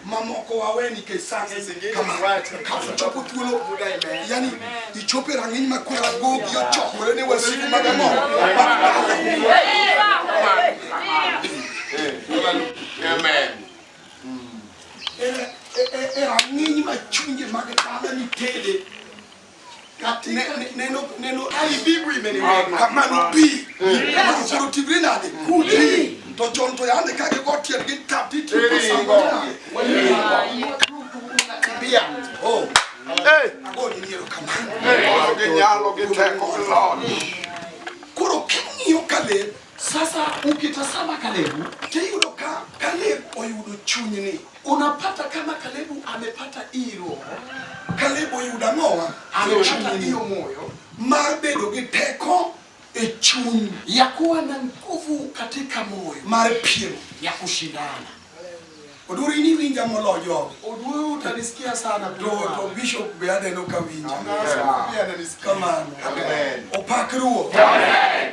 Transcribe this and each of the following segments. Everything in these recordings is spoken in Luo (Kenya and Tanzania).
mamoko wawe nikech sani kafuchopo thuolo yani ichopo e rang'iny ma kwera gogi ochokore ne wasigu mag ang'o Amen. erang'iny ma chunje mag dala nitede kamano pi osero tigre nade kuti to chon to yande ka gigo tiel gi tapi tiposambiya agoniniero kamano koro king'iyo kaleb Sasa ukitazama Kalebu tiyudo ka Kalebu oyudo chunyni, unapata kama Kalebu amepata iro. Kalebu oyudo ang'owa, amepata iyo moyo mar bedo gi teko e chuny ya kuwa na nguvu katika moyo mar piem ya kushindana Odwuro ini winja molo jogi. Odwuro utanisikia sana to to bishop be aneno ka winja. Kamano. Amen. Opak ruoth. Amen.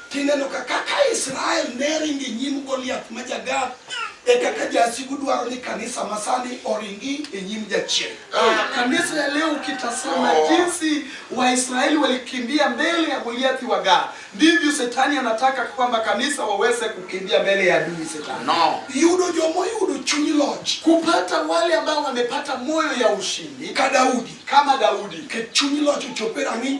Tineno ka kaka Israel ne ringo e nyim Goliath ma Jagath, e kaka jasigu dwaro ni kanisa masani oringi e nyim jachien. Kanisa ya leo ukitazama jinsi Waisraeli walikimbia mbele ya Goliathi wa Gath, ndivyo Shetani anataka kwamba kanisa waweze kukimbia mbele ya adui Shetani. No. Yudo jomo yudo chuny loch. Kupata wale ambao wamepata moyo ya ushindi Ka Daudi, kama Daudi. ke chuny loch ochope rang'iny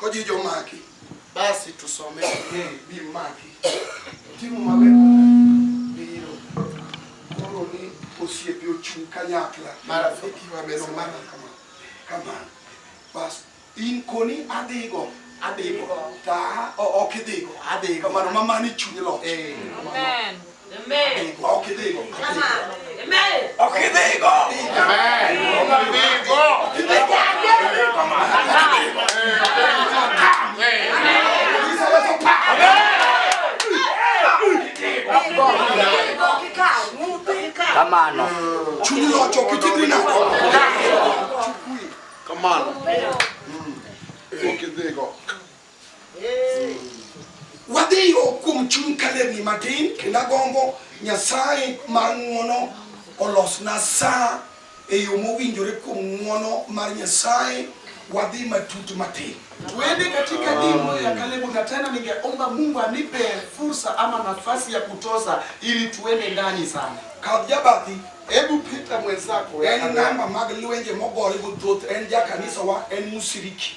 Koji jomaki. Basi tusome bi maki. Timo maber biro. Koro ni osiepe ochung' kanyakla. Marafiki wabedo mana kama. Kama. Bas in koni adhigo. Adhigo. Ta ok idhigo. Adhigo. Kamano mamani chuny loch. Amen. Kamano. Chunyi locho kitibri na. Kamano. Okidhigo. Wadhi yo kuom chuny kalerni matin kendo agombo Nyasaye mar ng'uono olosna saa e yo mowinjore kuom ng'uono mar Nyasaye wadhi matut matin. Tuende katika dimo ya Kalebu na tena ningeomba Mungu anipe fursa ama nafasi ya kutoza ili tuende ndani sana. Kadjabati Hebu pita mwenzako. En namba mag lwenje mogore go thoth en ja kanisa wa en musiriki.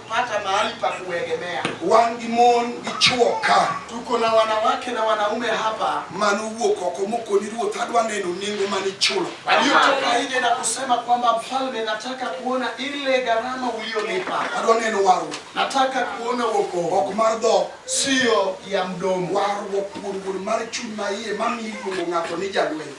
pata mahali pa kuegemea. Wan gi mon gi chwo ka. Tuko na wanawake na wanaume hapa. Mano wuok oko mokoni ruoth adwa neno nengo mane ichulo. Aliyotoka nje na kusema kwamba mfalme, nataka kuona ile gharama uliyolipa. Adwa neno warruok. Nataka kuona wokovu. Ok mar dhok. Sio ya mdomo. Warruok kuom gol mar chuny maiye mamiyo iluongo ng'ato ni jalweny.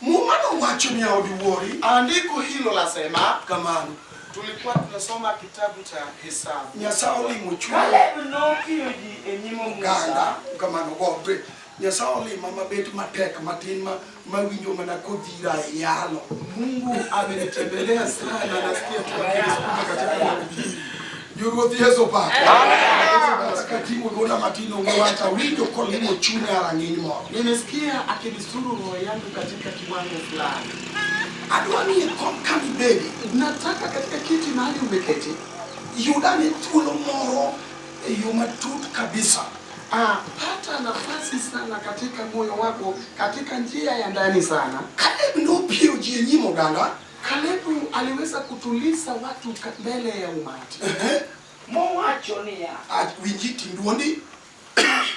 Muma no wacho niya odiwuori. Andiko hilo lasema. Kamano. Tulikuwa tunasoma kitabu cha Hesabu. Nyasaye olimo chuo. Kaleb nokiyo ji e nyim Musa. Oganda kamano gombe. Nyasaye olima mabet matek matin ma mawinjo mana kodhira e yalo. Mungu amenitembelea sana nasikia tu akinisukuma katika mahubiri. Jowuoth Yesu opak. Katimo dwonda matin onge wach awinjo kolimo chunya rang'iny moro. Nimesikia akinisuru roho yangu katika kiwango fulani. Adwa ni ikom kama ibedi. Nataka katika kiti mahali umeketi. Yudane thuolo moro e yo matut kabisa. Ah, pata nafasi sana katika moyo wako katika njia ya ndani sana. Kaleb nopiewo ji e nyim oganda. Kalebu aliweza kutuliza watu mbele ya umati. Mowacho niya. Winji tinduoni.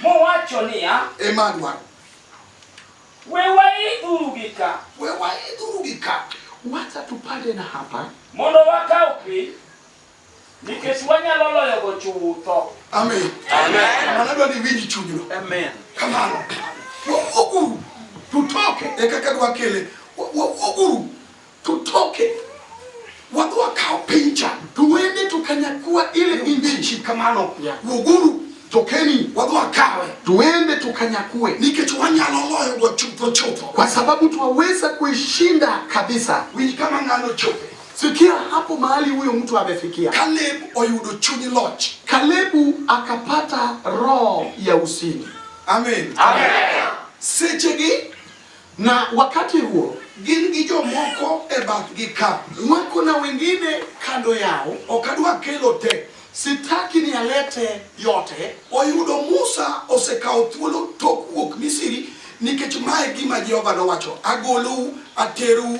Mowacho niya. Emmanuel. We waidhuru gi ka. We waidhuru gi ka. Wacha tupande na hapa. Mondo wakaw piny. Nikech wanyalo loyogo chutho. Amen. Amen. Mana dwa ni iwinj chunyno. Amen. Kamano. Wawuoguru tutoke e kaka dwa kele. Wawuoguru tutoke. Wadhi wakaw piny cha. Tuwende to kanyakua ile injichi kamano. Wuoguru tokeni wadhi wakawe tuende tukanyakue, nikech wanyalo loyo go chutho chutho, kwa sababu twaweza kuishinda kabisa. Winj kama ng'ano chope Sikia hapo mahali huyo mtu amefikia. Kaleb oyudo chuny loch. Kalebu akapata roho ya usini. Amen. Amen. Sechegi na wakati huo gin gi jomoko e bathgi ka wako na wengine kando yao, ok adwa kelo te sitaki ni alete yote. Oyudo Musa osekawo thuolo tok wuok Misri, nikech mae gima Jehova nowacho, agolou aterou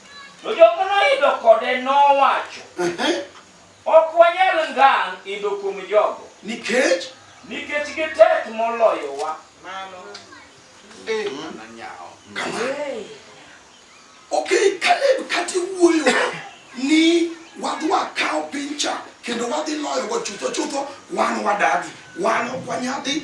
To joma noidho kode nowacho, Ok wanyal ngang' idho kuom jogo. Nikech? Nikech gitek moloyowa. Mano. Eh. Mana nyawo. Okay, Caleb kati wuoyo ni wadhi wakawo piny cha kendo wadhi loyogo chutho chutho wan wadagi. Wan ok wanyadhi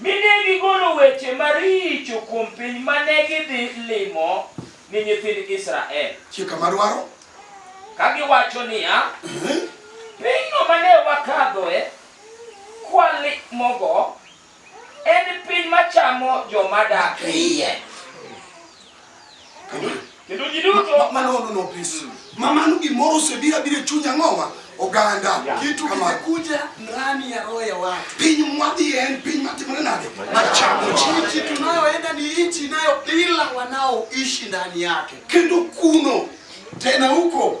Mi ne gigolo weche maricho kuom piny ma ne gidhi limo ni nyithind Israel. Chika madwaro. Ka giwacho niya, Pinyno ma ne wakadhoe kwalimogo en piny machamo joma dak e iye. Kendo ji duto. Mama no no no please. Mm. Mama no gimoro osebira bire chunya ng'owa oganda yeah. kitu kimekuja ndani ya roho ya watu. Piny mwadhi en piny matimore nade? Machamo chichi tunayoenda ni nchi inayo ila wanaoishi ndani yake. Kendo kuno tena huko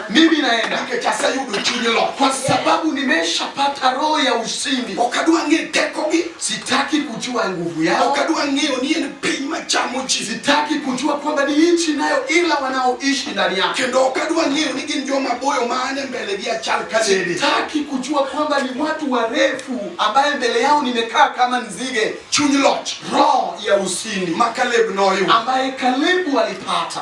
mimi naenda nikechasa yudo chunye lo kwa sababu nimeshapata roho ya ushindi okadwa ng'e tekogi sitaki kujua nguvu yao okadwa ng'eyo ni en piny machamo ji sitaki kujua kwamba ni nchi nayo ila wanaoishi ndani yake kendo okadwa ng'eyo ni gin joma boyo maane mbele gi achal kadede sitaki kujua kwamba ni watu warefu ambaye mbele yao nimekaa kama nzige chuny loch roho ya ushindi makaleb noyudo ambaye kalebu alipata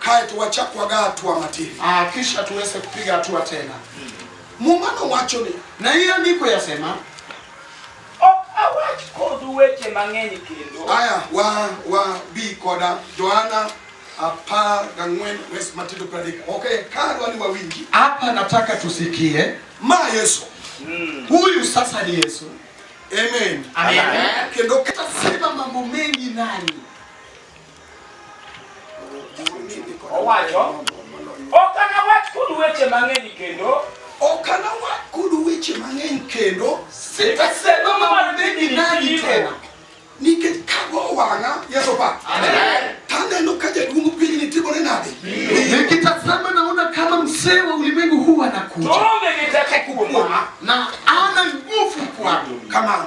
kae to wachak waga hatua matin ah, kisha tuweze kupiga hatua tena. Muma nowacho ni na hii andiko yasema awach kodu weche mang'eny kendo. Aya, wa wa bi koda Joana apar gang'wen wes Matendo pradek. Okay, kadwa ni wawinji hapa, nataka tusikie ma Yesu mm. Huyu sasa ni Yesu. Amen. Amen. Amen. Kendo kata sema mambo mengi nani Owacho, ok anawach kudu weche mang'eny kendo. Ok anawach kudu weche mang'eny kendo. Sitasema mambo mengi nanyi tena. Nikech kago wang'a, Yesu pa. Amen. Taneno ka jaduong' piny ni timore nade? Nikitazama naona kama mzee wa ulimwengu huu anakuja. Tuombe nitakakuwa. Na ana nguvu kwangu. Kama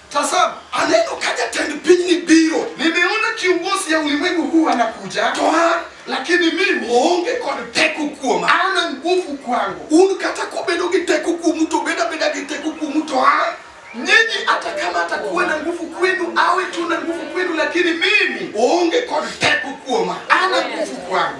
Tazama, aneno ka jatend pinyni biro. Nimeona kiongozi ya ulimwengu huu anakuja. To an lakini mimi oonge kod teko kuoma. An an nguvu kwangu. Un kata kobedo gi teko kuomu to beda beda gi teko kuomu to an nyinyi hata kama atakuwa na nguvu kwenu awe tu na nguvu kwenu, lakini mimi oonge kod teko kuoma. Ana nguvu kwangu.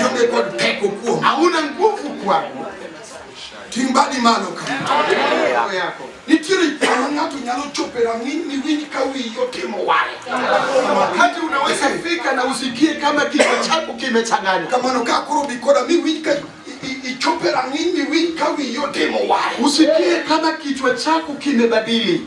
Yude kod teko kuom. Hauna nguvu kwako. Timbadi malo kama. yako. Nitiere kama ng'ato nyalo chopo e rang'iny miwinj ka wiyi otimo waya. Wakati unaweza fika na usikie kama kichwa chako kimechanganya. Kamano ka koro bikoda miwinj ka ichopo e rang'iny miwinj ka wiyi otimo waya. Usikie kama kichwa chako kimebadili.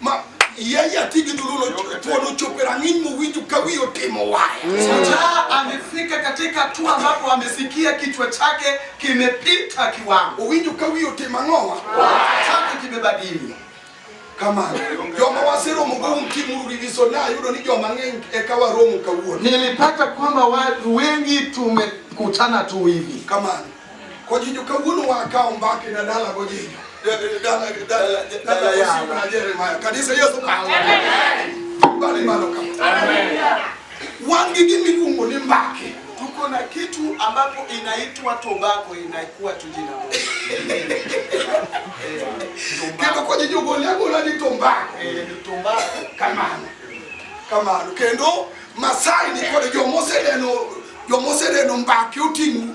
Ma yeye atigi dhululo tuono chope rang'iny mowinjo ka wiye otimo waya. Shujaa amefika katika hatua ambapo amesikia kichwa chake kimepita kiwango, Owinjo ka wiye otimo ang'owa. chake kimebadili. Kamano joma waseromo go un timuru riviso na ayudo ni joma ng'eny eka waromo kawuono. Nilipata kwamba watu wengi tumekutana tu hivi, Kamano Kojinjo kawuono wa akawo mbake na dala gojinjo. Dala dala dala Yesu na Jeremiah. Kanisa Yesu kawo. Bali malo kama. Amen. Wangi gimi luongo ni mbake. Tuko na kitu ambapo inaitwa tobacco inakuwa tu jina moja. Kendo kojinjo gole agola ni tombako. Eh, ni tombako. Kamano. Kamano. Kendo Masai ni kod jomoseneno jomoseneno mbake oting'u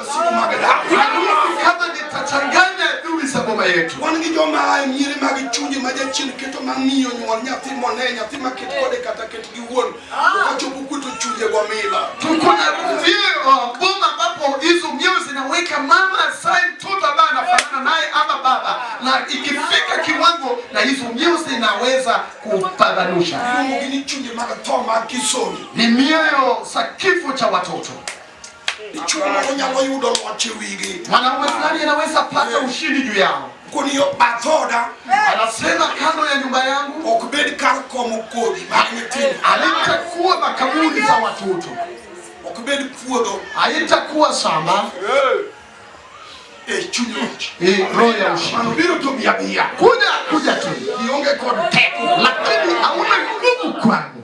wan gi joma ae nyiri mag chunje ma jachien keto ma miyo nyuol nyathi mone nyathi ma ket kode kata ket gi wuon okachopo kuto chunje go mila tukuna vio boma ambapo hizo mioyo zinaweka mama asaye mtoto ambaye anafanana naye ama baba na ikifika kiwango na hizo mioyo zinaweza kupambanusha ni mioyo za kifo cha watoto Ichumo onyalo yudo loch e wigi. Mwanamwezani anaweza pata ushindi juu yao. Kuniyo bathoda. Anasema kando ya nyumba yangu. Ok bed kar komo kodhi mag nyithindo. Alitakuwa makaburi za watoto. Ok bed puodho. Alitakuwa shamba. Eh, chuny loch. Eh, roho ya ushindi. Manobiro to bia bia. Kuja kuja tu. Ionge kod teko. Lakini hauna nguvu kwangu.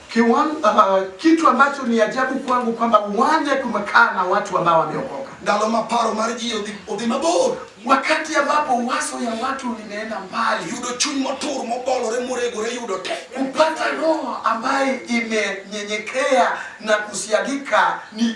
Kiwan, uh, kitu ambacho ni ajabu kwangu kwamba uwanja kumekaa na watu ambao wameokoka. Ndalo ma paro mar ji odhi odhi mabor. Wakati ambapo wazo ya watu limeenda mbali. Yudo chuny motur mobolore moregore yudo te. Kupata roho ambaye imenyenyekea na kusiagika ni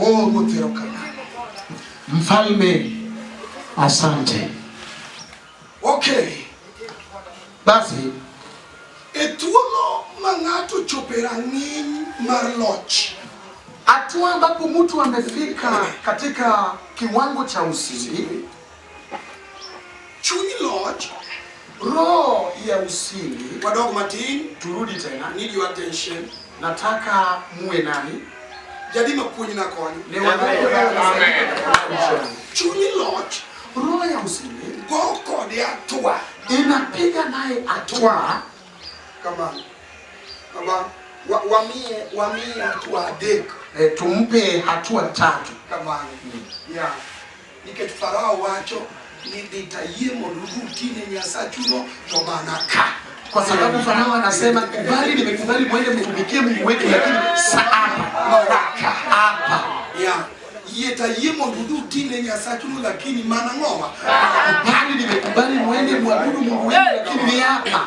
Oh, Mfalme, asante. Okay. Basi e thuolo ma ng'ato chopo e rang'iny mar loch, hatua ambapo mtu amefika katika kiwango cha usiri Chuny loch. Roho ya usingi. Wadog matin. Turudi tena. Need your attention. Nataka muwe nani? Jadi mapuonj na konyo. Ne wadog. Amen. Chuny loch. Roho ya usingi. Go kode atua. Inapiga naye atua. Kama. Kama. Wa, wamie, wamie atua dek. E, eh, tumpe hatua tatu. Kama. Mm. Yeah. Nikech Farao wacho ni nitayie mondo uti ne Nyasachuno to mana ka kwa sababu Farao anasema kubali, nimekubali mwende mtumikie Mungu wetu, lakini saa hapa hapa yeah yetayie mondo udhi uti ne Nyasachuno lakini mana ng'owa. Kubali, nimekubali mwende mwabudu Mungu wenu, lakini ni hapa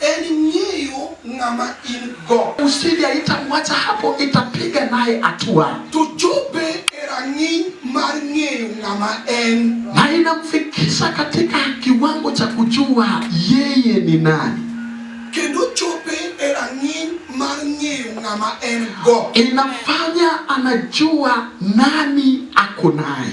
En ng'eyo ng'ama in go. Usije haitamwacha hapo, itapiga naye hatua. Tuchope e rang'iny mar ng'eyo ng'ama en. Na inamfikisha katika kiwango cha kujua yeye ni nani. Kendo chope e rang'iny mar ng'eyo ng'ama en go. Inafanya anajua nani ako naye.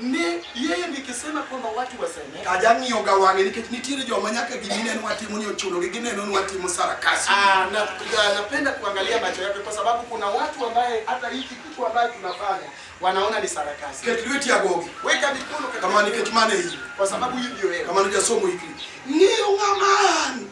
Ne yeye nikisema kwamba watu wasamehe. Kajang'iyo ga wang'e nikech nitiere joma nyaka gimine ni watimo ni ochuno gi gineno ni watimo sarakasi. Ah, na, na, napenda kuangalia macho yake kwa sababu kuna watu ambaye hata hiki kitu ambaye tunafanya wanaona ni sarakasi. Ket lweti agogi. Weka mikono kama nikech mane hii. Kwa sababu hii ndio hela. Kama ni jasomo hiki. Ng'iyo ng'ama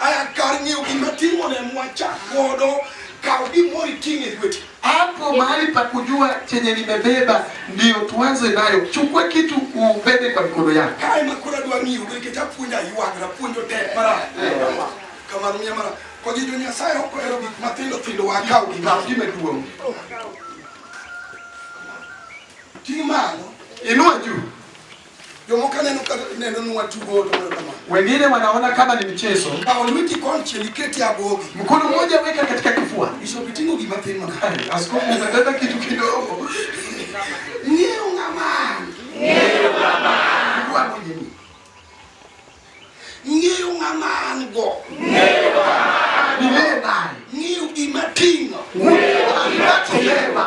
Aya kar ng'eyo gima timo ne mwacha godo kaw gimoro iting' e lweti. Hapo mahali pa kujua chenye nimebeba ndio tuanze nayo. Chukua kitu ubebe kwa mikono yako. Kae ma kura dwa ng'iyo be kech apuonja ywak na puonjo tek mara. Kamano miya mara. Kwa ji jo Nyasaye ok ohero gik matindo tindo wa kaw gima gima duong'. Ting' malo. Inua juu. Jomoko neno ka neno ni watugo to mano kama. Wengine wanaona kama ni mchezo. Kawo lweti konchiel iket e abwogi. Mkono mmoja weka katika kifua. Bishop iting'o gima tin mana. Askofu unabeba kitu kidogo. Ng'eyo ng'ama. Ng'eyo ng'ama. Ng'eyo ng'ama an go. Ng'eyo ng'ama. Ng'eyo gima ting'o. Ng'eyo gima ting'o.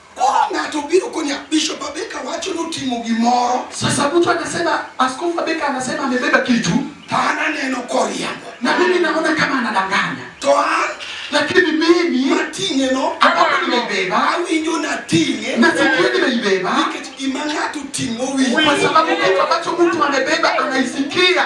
Koro ng'ato biro konya Bishop Abeka wacho notimo gimoro. Sasa mtu anasema Askofu Abeka anasema amebeba kitu. To an aneno koriambo. Na mimi naona kama anadanganya. To an lakini mimi mating'e no ambapo nimebeba awinjo nating'e na sikuwa nimeibeba nikech gima ng'ato ting'o winjo, kwa sababu kitu ambacho mtu amebeba anaisikia.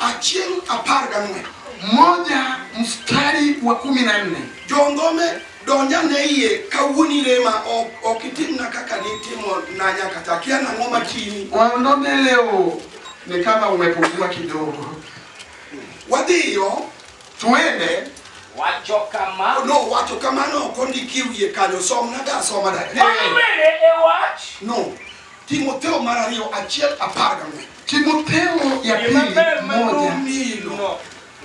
achiel apar gang'wen moja mstari wa kumi na nne jongome donja ne iye kawuoni rema ok itimna kaka nitimo na nyaka ta kia nang'o matini waondome leo ni kama umepungua kidogo wadhiyo tuende wacho kamano no wacho kamano ok ondiki wiye kanyo somna da somana no Timotheo mar ariyo achiel apar gang'wen. Timotheo ya Gima pili ber ma moja nomino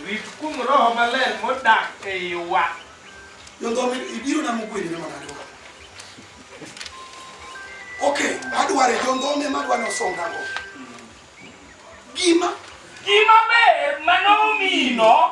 rit kuom roho maler modak e iwa. yondhomi ibiro na mugwedine manadoka ok adware yondhome madwa ni osongago gima Gima ber ma nomino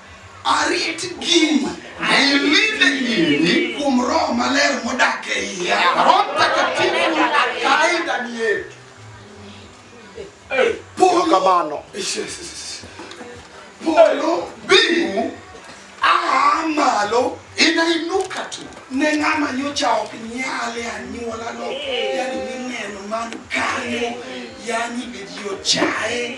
Arit gini na ilinde gini kuom Roho Maler modak e iya. Roho Mtakatifu akae ndani yetu. Polo kamano. Polo bingu aa malo inainuka tu ne ng'ama nyocha ok nyale anyuolano yani mineno man kanyo yani bidio chaye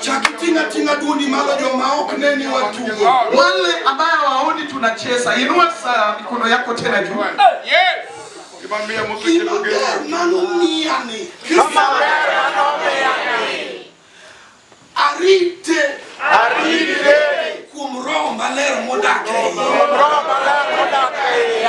Chak tinga tinga dundi malo joma ok neni watugo. Wale ambayo waoni tunacheza, inua saa mikono yako tena juu. Yes. Kimambia mtu kidogo. Manuniani. Kimambia manuniani. Arite. Arite. Kuom roho maler modak e iye. Kuom roho maler modak e iye.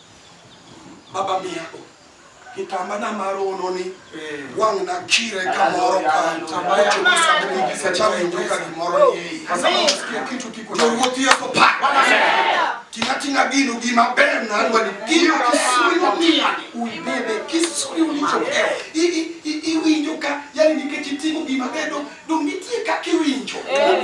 Baba mia o. Kitamba na maro no ni eh. wang na kire ka moro ka kitamba ya chuma sabu ni kisa cha winjo ka ni moro ni kwa sabu nasikia kitu kiko na wote yako pa kina tina binu gima bem na alwa ni kina kisuri wa mia uibebe kisuri ulicho keo i i i i winjo ka yani ni kechitimu gima bedo dumiti ka kiwinjo eh.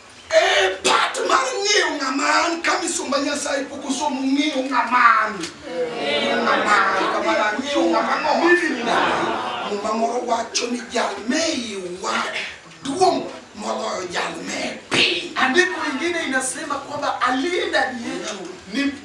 Eh, pat mar ng'eyo ng'ama an ka misumba Nyasaye pok osomo ng'eyo ng'ama an. Ng'eyo ng'ama an, kamano ang'eyo ng'ama ng'oma. Muma moro wacho ni jal me iwa duong' moloyo jal me piny. Andiko lingine inasema kwamba aliye ndani yetu ni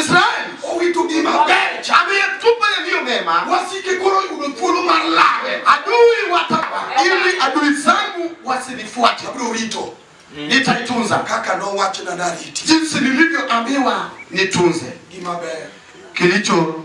Israel owito gima ber chamiye tupa yaliyo mema wasike koro yudo thuolo mar lawe adui wata ili adui zangu wasinifuate abiro rito mm. nitaitunza kaka nowacho na nariti jinsi nilivyoambiwa nitunze gima ber kilicho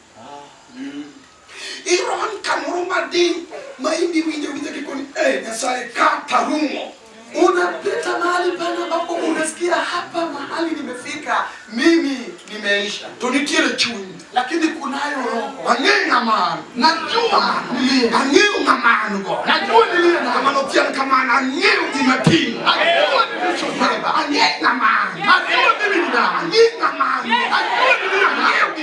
Iron kamoro madiny ma indi winjo winjo kikoni eh, Nyasaye kata rumo unapita mahali pana ambapo unasikia hapa mahali nimefika mimi nimeisha, to nitiere chuny lakini kunayo roho ang'eyo ng'amano najua ang'eyo ng'amano go najua niliye na ng'amano tian kamano ang'eyo gima timo najua nilichobeba ang'eyo ng'amano najua mimi ni nani ang'eyo ng'amano najua niliye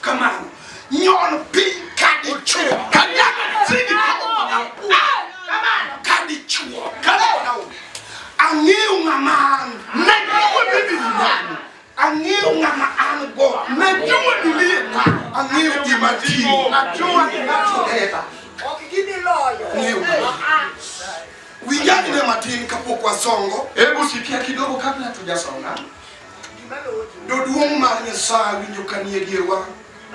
Kamano. Nyon piny ka dichuo. Kanyakla sini kamano. Kamano. Ka dichuo. Kamano. Ang'eyo ng'ama an. Najua mimi ni nani. Ang'eyo ng'ama an go. Najua mimi ni nani. Ang'eyo gima timo. Najua gima timo. Ok gini loyo. Ng'eyo ng'ama an. Winjani ne matin kapok wasongo. Hebu sikia kidogo kabla tujasonga. Ndio duong' mar Nyasaye winjo kanie dierwa.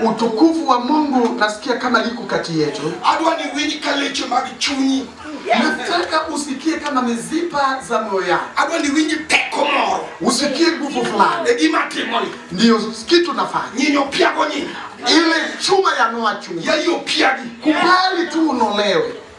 Utukufu wa Mungu nasikia kama liko kati yetu. Adwa ni winj ka leche mag chunyi. Nataka usikie kama mizipa za moyo yako. Adwa ni winj teko moro. Usikie nguvu fulani. E gima timoni. Ndio kitu nafanya. Nyinyo piago nyinyi. Ile chuma ya noa chuma. Yaiyo piagi. Kubali tu unolewe.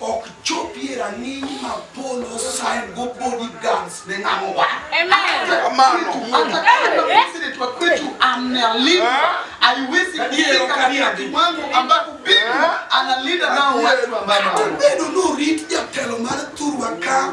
ok chopie rang'iny ma polo sign go body guns ne ng'amo wa kamano amebedo norit jatelo mar thurwa ka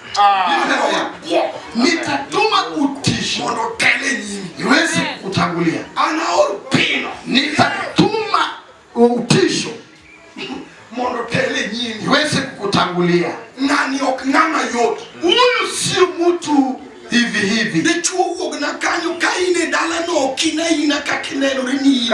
Ah. Nitatuma utisho mondo otele nyimi iweze kutangulia. Anaor pino, nitatuma utisho mondo otele nyimi iweze kukutangulia. Nani ok ng'ama yot, huyu sio mtu hivi hivi. Dichuo wuog na kanyo ka in e dalano ok in aina kaka inenore ni in.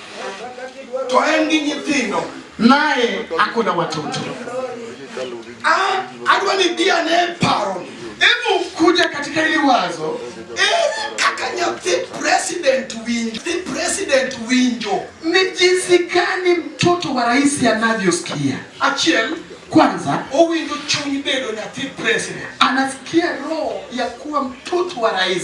to en gi nyithindo naye ako na watoto. Ah, adwa ni dia ne paro. Hebu kuja katika hili wazo. Eri kaka nyathi president winjo. The president winjo. Ni jinsi gani mtoto wa rais anavyosikia? Achiel kwanza owinjo chuny bedo nyathi president, anasikia roho ya kuwa mtoto wa rais.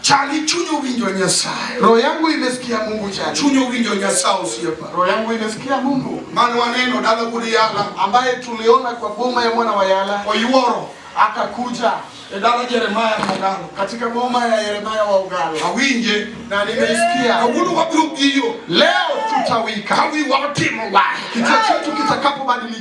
Chali chunyo winjo Nyasaye. Roho yangu imesikia Mungu chali. Chunyo winjo Nyasaye usiepa. Roho yangu imesikia Mungu. Maana waneno dala gudi yala ambaye tuliona kwa boma ya mwana wa Yala. Oyuoro akakuja e dala Jeremiah Mogalo. Katika boma ya Yeremia wa Ugalo. Awinje na nimeisikia. Kawuono wabiro giyo. Leo tutawika. Kawi watimo wae. Kichwa chetu kitakapobadilika.